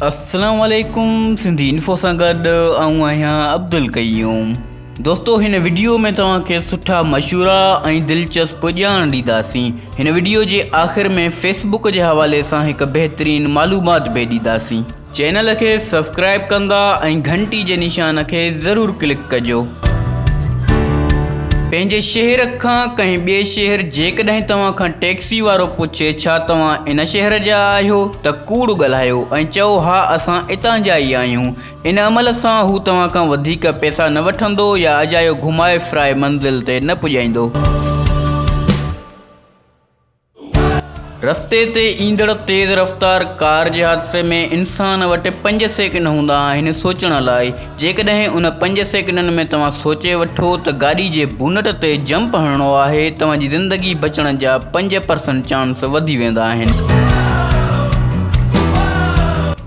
اسلام عليڪم سنڌي انفو سان گڏ آئون آهيان عبدالقيوم دوستو هن وڊيو ۾ توهان کي سٺا مشورا ۽ دلچسپ ڄاڻ ڏينداسين هن وڊيو جي آخر ۾ فيس بڪ جي حوالي سان هڪ بهترين معلومات به ڏينداسين چينل کي سبسڪرائب ڪندا ۽ گهنٽي جي نشان کي ضرور ڪلڪ ڪجو پنهنجي شهر کان ڪنهن ٻئي شهر جيڪڏهن توهان کان ٽيڪسي وارو پڇي ڇا توهان ان شهر جا آهيو ته ڪوڙ ڳالهايو ۽ چئو ها اسان اتان جا ئي آهيون، ان عمل سان هو توهان کان وڌيڪ پئسا نه وٺندو يا اجايو گهمائي ڦرائي منزل تي نه پڄائيندو. رستي تي ايندڙ تيز رفتار ڪار جي حادثي ۾ انسان وٽ پنج سيڪنڊ هوندا آهن سوچڻ لاء، جيڪڏهن ان پنج سيڪنڊن ۾ توهان سوچي وٺو ته گاڏي جي بونٽ تي جمپ هڻڻو آهي، توهان جي زندگي بچڻ جا پنج پرسنٽ چانس وڌي ويندا آهن.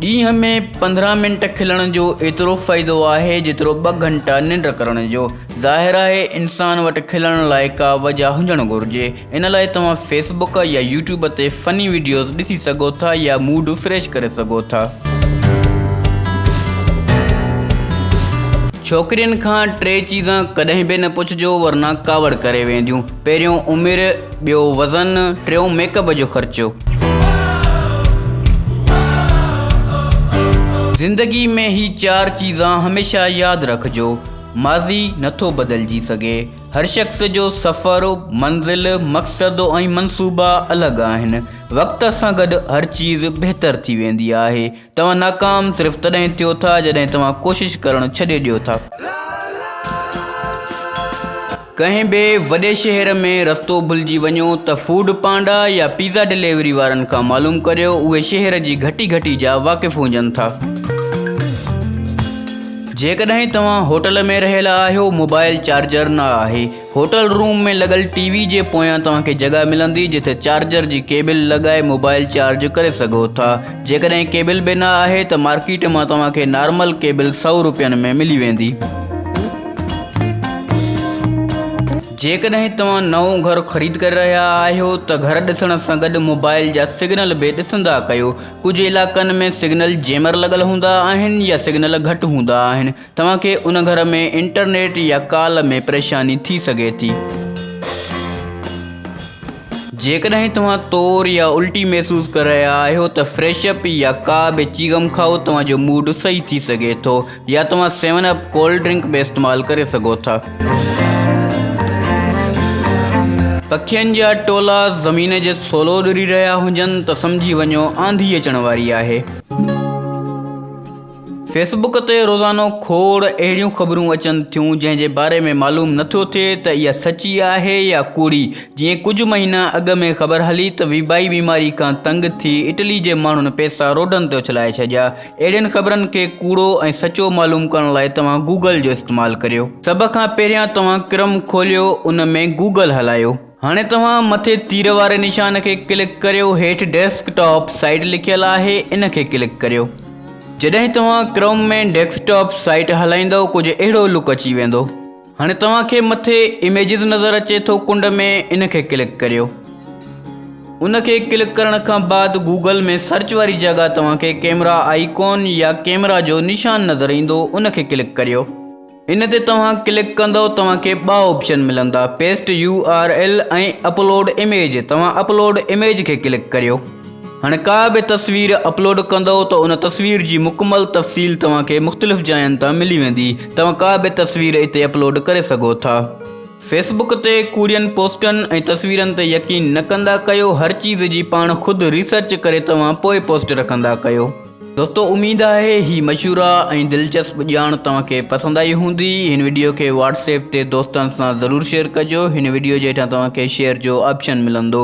ڏينهن ۾ پندرهن منٽ کلڻ جو ايترو فائدو آهي جيترو ٻه گهنٽا ننڊ ڪرڻ جو. ظاهر آهي انسان وٽ کلڻ لاء ڪا وجهه هجڻ گهرجي. ان لاء توهان فيس بوڪ يا يوٽيوب تي فني ويڊيوز ڏسي سگهو ٿا يا موڊ فريش ڪري سگهو ٿا. ڇوڪرين کان ٽي چيزا ڪڏهن به نه پڇجو ورنه ڪاوڙ ڪري وينديون پهريون عمر ٻيو وزن ٽيون ميڪ اپ جو خرچو. زندگي ۾ هي چار چيزا هميشه ياد رکجو ماضي نٿو بدلجي سگهي. هر شخص جو سفر، منزل، مقصد ۽ منصوبا الڳ آهن. وقت سان گڏ هر چيز بهتر ٿي ويندي آهي. توهان ناڪام صرف تڏهن ٿيو ٿا جڏهن توهان ڪوشش ڪرڻ ڇڏي ڏيو ٿا. ڪنهن به وڏي شهر ۾ رستو ڀلجي وڃو ته فوڊ پانڊا يا پيزا ڊليوري وارن کان معلوم ڪريو، اهي شهر جي گهٽي گهٽي جا واقف هجن ٿا. جيڪڏهن توهان هوٽل ۾ رهيل آهيو، موبائل چارجر نه آهي. هوٽل روم ۾ لڳل ٽي وي جي پويان توهان کي جڳهه ملندي، جتي چارجر جي ڪيبل لڳائي موبائل چارج ڪري سگهو ٿا. جيڪڏهن ڪيبل به نه آهي ته مارڪيٽ مان توهان کي نارمل ڪيبل سؤ روپين ۾ ملي ويندي. جيڪڏهن توهان نئون گهر خريد ڪري رهيا آهيو ته گهر ڏسڻ سان گڏ موبائل جا سگنل به ڏسندا ڪيو. ڪجهه علائقن ۾ سگنل جيمر لڳل هوندا آهن يا سگنل گهٽ هوندا آهن توهان کي ان گهر ۾ انٽرنيٽ يا ڪال ۾ پريشاني ٿي سگهي ٿي. جيڪڏهن توهان تور يا الٽي محسوس ڪري رهيا آهيو ته فريش اپ يا ڪا به چيگم کائو توهان جو موڊ صحيح ٿي سگهي ٿو. يا توهان سيون اپ ڪولڊ ڊرنڪ به استعمال ڪري سگهو ٿا. پکين جا ٽولا زمين جي سولو ڏري رهيا هجن ته سمجهي وڃو آنڌي اچڻ واري آهي. فيس بڪ تي روزانو کوڙ اهڙيون خبرون اچن ٿيون جنهن جي باري ۾ معلوم نه ٿيو ٿئي ته اها سچي آهي يا ڪوڙي جيئن ڪجهه مهينا اڳ ۾ خبر هلي ته ويبائي بيماري کان تنگ ٿي اٽلي جي ماڻهن پئسا روڊن تي اڇلائي ڇڏيا اهڙين خبرن کي ڪوڙو ۽ سچو معلوم ڪرڻ لاء توهان گوگل جو استعمال ڪريو. سڀ کان پهريان توهان ڪرم کوليو ان ۾ گوگل هلايو. هاڻي توهان مٿي تير واري نشان کي ڪلڪ ڪريو هيٺ ڊيسڪ ٽاپ سائيٽ لکيل آهي ان کي ڪلڪ ڪريو. جڏهن توهان ڪرم ۾ ڊيسڪ ٽاپ سائيٽ هلائيندؤ ڪجهه اهڙو لڪ اچي ويندو. هاڻي توهان کي مٿي اميجز نظر اچي ٿو ڪنڊ ۾ ان کي ڪلڪ ڪريو ان کي ڪلڪ ڪرڻ کان بعد گوگل ۾ سرچ واري جڳهه توهان کي ڪيمرا آئيڪون يا ڪيمرا جو نشان نظر ايندو ان کي ڪلڪ ڪريو ان تي توهان ڪلڪ ڪندو توهان کي ٻه آپشن ملندا paste U R L ۽ upload image توهان اپلوڊ اميج کي ڪلڪ ڪريو هاڻي ڪا به تصوير اپلوڊ ڪندؤ ته ان تصوير جي مڪمل تفصيل توهان کي مختلف جاين تان ملي ويندي توهان ڪا به تصوير اتي اپلوڊ ڪري سگهو ٿا. فيس بڪ تي ڪوڙين پوسٽن ۽ تصويرن تي يقين نه ڪندا ڪيو هر چيز جي پاڻ خود ريسرچ ڪري توهان پوء پوسٽ رکندا ڪيو. دوستو اميد آهي هي مشورا ۽ دلچسپ ڄاڻ توهان کي پسند آئي هوندي هن وڊيو کي واٽس ايپ تي دوستن سان ضرور شيئر ڪجو هن وڊيو جي هيٺان توهان کي شيئر جو آپشن ملندو